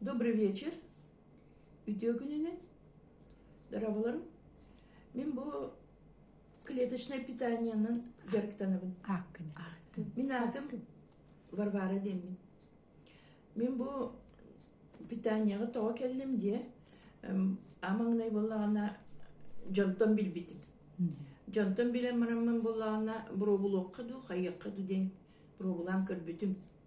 Добрый вечер. Үтүө күнүнэн, дороболоруҥ. Мин бу клеточнай питаниенан дьарыктанабын. Ааккын. Мин аатым Варвара диэммин. Мин бу питанияҕа тоҕо кэллим диэ амаҥнай буоллаҕына дьонтон билбитим. Дьонтон билэн бараммын буоллаҕына пробулуохха дуу, хайыахха дуу диэн пробулаан көрбүтүм.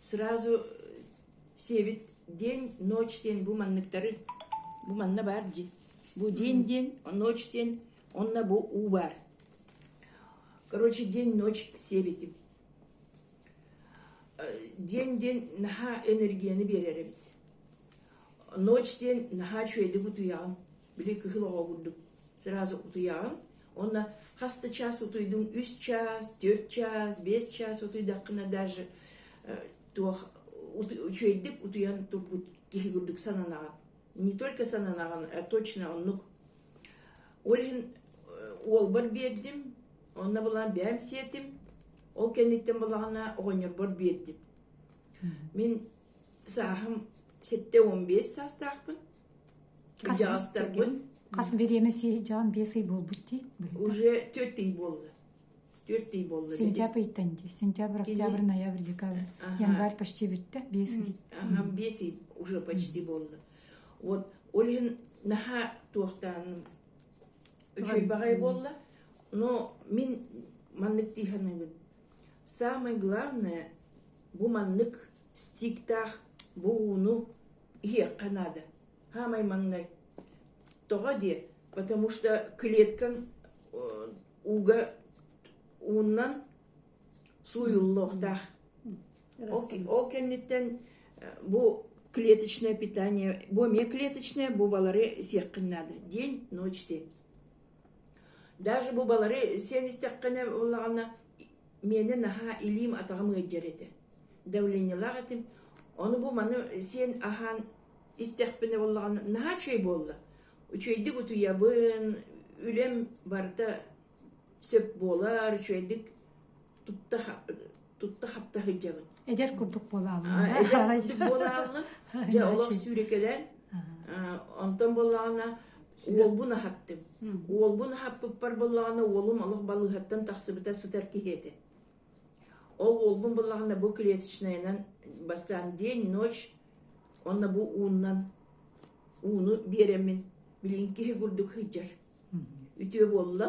сразу сиэбит день ночь диэн бу манныктары бу манна баар дии бу день диэн ночь диэн онно бу у баар короче день ночь сиэбитим день диэн наһаа энергияны биэрэр эбит ночь диэн наһаа үчүгэйдик утуйаҕын Били кыһыл оҕо курдук сразу утуйаҕын. Онно хас да час утуйдуҥ, үс час, төрт час, бес час утуйдаххына даже туох үчүөйдүк утуйан турбут киһи курдук сананаҕын. Не только сананаҕын, а точно оннук. Олин уолбар биэрдим, онно булан бэм сиэтим. Ол кэнниттэн булаҕына оҕонньорбор биэрдим. Мин сааһым 7-15 саастаахпын. хас бириэмэ сиһдьаан биэс ый буолбут дии уже төрт ый буолла төрт ый буолла сентябрь ыйтан дии сентябрь октябрь ноябрь декабрь январь почти бүттэ биэс ый биэс ый уже почти буолла вот олен наһаа туохтааным үчүйбэҕэй буолла но мин маннык дыһаныбын самое главное бу маннык стиктаах бу ууну иһиэххэ наада хаамай маҥнай тоҕо диэ потому что клеткаҥ ууга ууннан сууйуллуохтаах ол кэнниттэн бу клеточное питание бу эмиэ клеточное бу балары сиэххин наада день ночь день даже бу балары сиэн истэххинэ буоллаҕына миэнэ наһаа илиим-атаҕым ыалдьар этэ. Давлениелаах этим. Ону бу маны сиэн аһаан истэхпинэ буоллаҕына наһаа үчүгэй буолла. Үчүгэйдик утуйабын, үлэм барыта сөп буолар, үчүгэйдик тутта тутта-хапта сылдьабын. Эдэр курдук буолаалынна. Эдэр курдук буолаалынна. Дьэ олох сүүрекелен. Онтон боллаҕына уолбун аһаттым. Уолбун аһаппыппар боллаҕына уолум олох балыыһаттан тахсыбыта сытар киһи этэ. Ол уолбун боллаҕына бу клеточнаянан бастаан день, ночь онно бу ууннан ууну биэреммин билин киһи курдук сыдьар. Үтүө буолла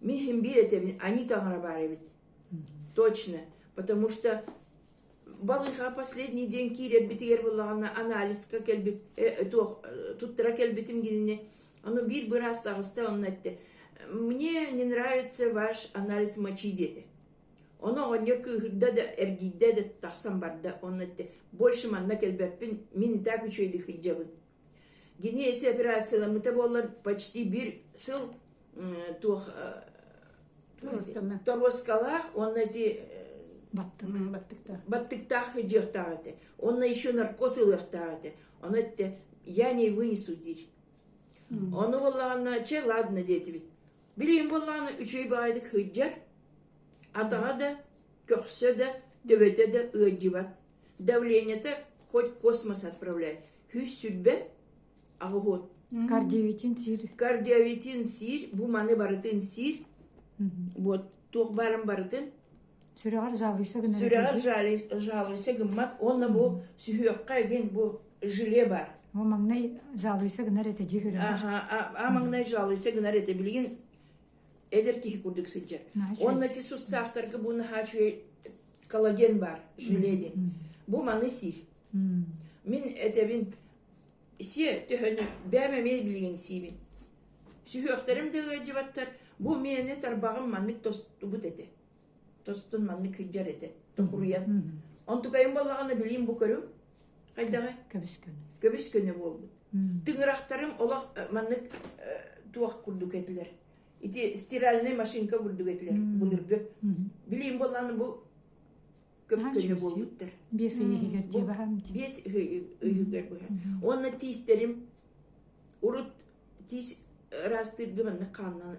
Мы им биэтэбин, они таҥара баар эбит. Точно, потому что балыыһа последний день киирэрбитигэр буллаҕына анализка кэлбит э, туох э, туттара кэлбитим гинни ону биир быраас таҕыста онно этте мне не нравится ваш анализ мочи диэти ону оҕонньор кыыһырда да эргийдэ да тахсан барда онно этте больше манна кэлбэппин мин так үчүөйдүк сылдьабын Кини эси операцияламмыта буоллар почти bir сыл туох торуоскалаах уонна ити баттыктаах дьыахтаах этэ онно еще наркоз ылыахтаах этэ ону этэ я не вынесу диир ону буоллаҕына че ладно диэтибит Билигин буоллаҕына үчүгэй баайдык сылдьар, атаҕа да, көхсө да, төбөтө да ыалдьыбат, давлениета хоть космос отправляет. Сүүс сүрбэ аҕыһот. Кардиовитин сиир. Кардиовитин сиир, бу маны барытын сиир. Вот туох барын барытын сүрэҕэр жалуйса гына сүрэҕэр жалуйса гыммат уонна бу сүһүөххэ дин бу желе бар О маҥнай жалуйса гынар этэ дии хүрэ. Аха, а маҥнай жалуйса гынар этэ билигин эдер киһи курдук сыдьа. Онна ти суставтарга бу нахачуй коллаген бар, желедин. Бу маны си. Мин этебин Исиэ, төһөнү, бэйэм эмиэ билигин сиибин. Сүһүөхтэрим да ыалдьыбаттар, бу миэни тарбаҕым маннык тостубут этэ. Тостун маннык сылдьар этэ, токуруйан. Онтукайым балаҕана билим бу көрүҥ, хайдаҕа? Көбүс күнү. Көбүс күнү буолбут. Тыҥырахтарым олох маннык туох курдук этилэр. Ити стиральный машинка курдук этилэр былыргы. Билим боллааны бу көпкөнө буолбуттар биэс ый иһигэр дии баһам биэс ыйыгар быһа уонна тиистерим урут тиис ыраастыырга маннык хааннан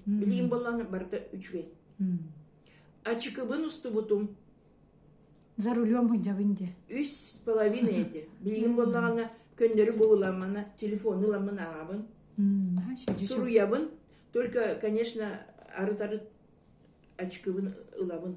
билигин боллаана барыта үчүгэй ачыкыбын устубутум за рулем һыдьабын дии үс половина эти билигин боллаана көннөрү буһуламмана телефону ламмын аабын суруябын только конечно арыт арыт очкыбын ылабын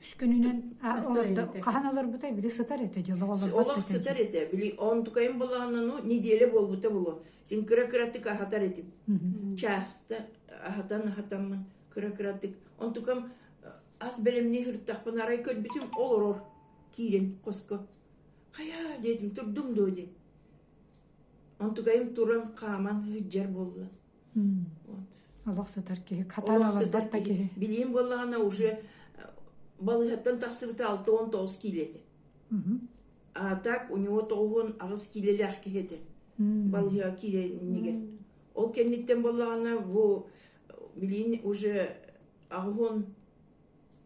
Үскүнүнэн олордо хаһан олорбута били сытар этэ дьыл олорбот олох сытар этэ били он тукайым болааннану неделя болбута булу син кыра кыратык аһатар этим часто аһатан аһатаммын кыра кыратык он тукам ас бэлэмни хыртахпын арай көрбүтүм олорор киирин хоско хая диэтим турдум доо диэн он тукайым туран хааман ыһыджар болла олох сытар киһи каталогар барта киһи билиим буоллаҕына уже балыһаттан тахсыбыта алта уон тоҕус киилэ этэ а так у него тоҕуһун аҕыс киилэлээх киһи этэ балыһаҕа киилэнигэр ол кэнниттэн буоллаҕына бу билиин уже аҕыһын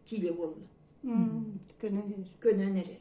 киилэ буолла көнөн эрэр көнөн эрэр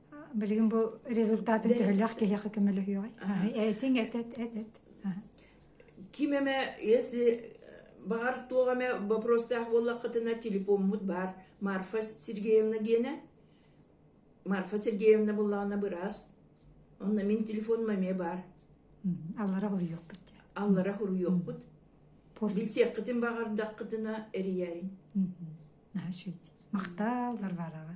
Билигин бу результатын төһөлөөх киһиэхэ көмөлөһүөҕэй? Этиҥ эт эт эт эт. Ким эме если баар туох эме вопростаах буоллаххытына телефоммут бар Марфа Сергеевна гене Марфа Сергеевна буллаҕына быраас онно мин телефоном эме бар аллара хуруйуохпут аллара хуруйуохпут билсиэххитин баҕардаххытына эрийэриҥ махтааллар бараҕа